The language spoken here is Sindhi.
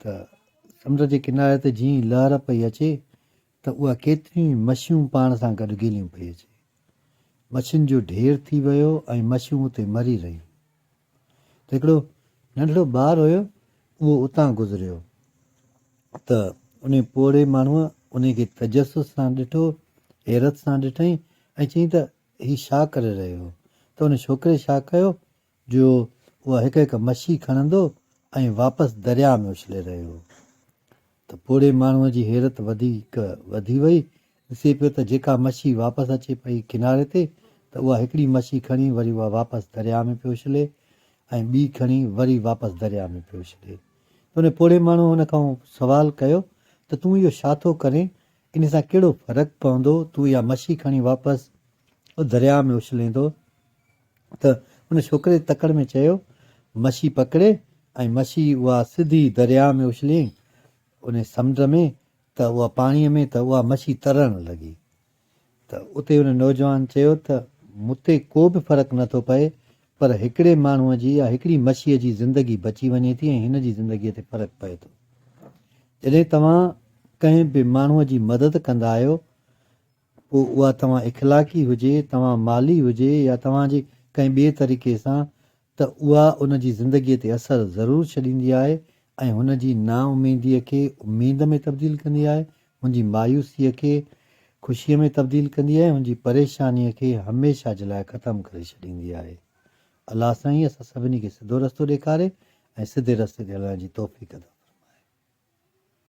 ته سمنڊ جي ڪناري تي جيئن ئي لهر پئي اچي ته اها ڪيتريون ئي مڇيون پاڻ سان گڏ گهيليون پئي اچي. مڇين جو ڍير ٿي ويو ۽ مڇيون اتي مري رهيون. ته هڪڙو ننڍڙو ٻار هيو اهو اتان گذريو ته انهي پوڙهي ماڻهوء انهي کي تجسس سان ڏٺو، حيرت سان ڏٺئين ۽ چيائين ته هي ڇا ڪري رهيو هو؟ ته ان ڇوڪري ڇا ڪيو جو اها هڪ هڪ مڇي کڻندو ۽ واپس درياء ۾ اڇلي رهيو ته پوڙهي ماڻهوء جي حيرت وڌيڪ وڌي وئي. ڏسي پيو ته جيڪا مڇي واپس اچي پئي ڪناري تي ته اها هڪڙي مڇي کڻي وري اها واپس درياء ۾ پيو اڇلي ۽ ٻي کڻي وري واپس درياء ۾ پيو اڇلي ته ان پوڙهي ماڻهوء ان کان سوال ڪيو ته تون اهو ڇا ٿو ڪرين ان سان ڪهڙو فرق پوندو تون اها مڇي کڻي واپس درياء ۾ اڇليندو ته ان ڇوڪري تڪڙ ۾ چيو، مڇي پڪڙي ۽ مڇي اها سڌي درياهه ۾ اڇليائين، ان سمنڊ ۾ ته اها پاڻيء ۾ ته اها مڇي ترڻ لڳي. ته اتي ان نوجوان چيو ته مون تي ڪو به فرق نه ٿو پئي، پر هڪڙي ماڻهوء جي يا هڪڙي مڇيء جي زندگي بچي وڃي ٿي ۽ هن جي زندگيء تي فرق پئي ٿو. جڏهن توهان ڪنهن به ماڻهوء جي مدد ڪندا آهيو، پوء اها توهان اخلاقي هجي، توهان مالي هجي يا توهان جي ڪنهن ٻئي طريقي سان ته اها ان جي زندگيء تي اثر ضرور ڇڏيندي آهي ۽ هن جي نااميديء کي اميد ۾ تبديل ڪندي آهي، هن جي مايوسيء کي خوشيء ۾ تبديل ڪندي آهي، هن جي پريشانيء کي هميشه جي لاء ختم ڪري ڇڏيندي آهي. الله سائين اسان سڀني کي سڌو رستو ڏيکاري ۽ سڌي رستي تي هلڻ جي توفيق عطا فرمائي.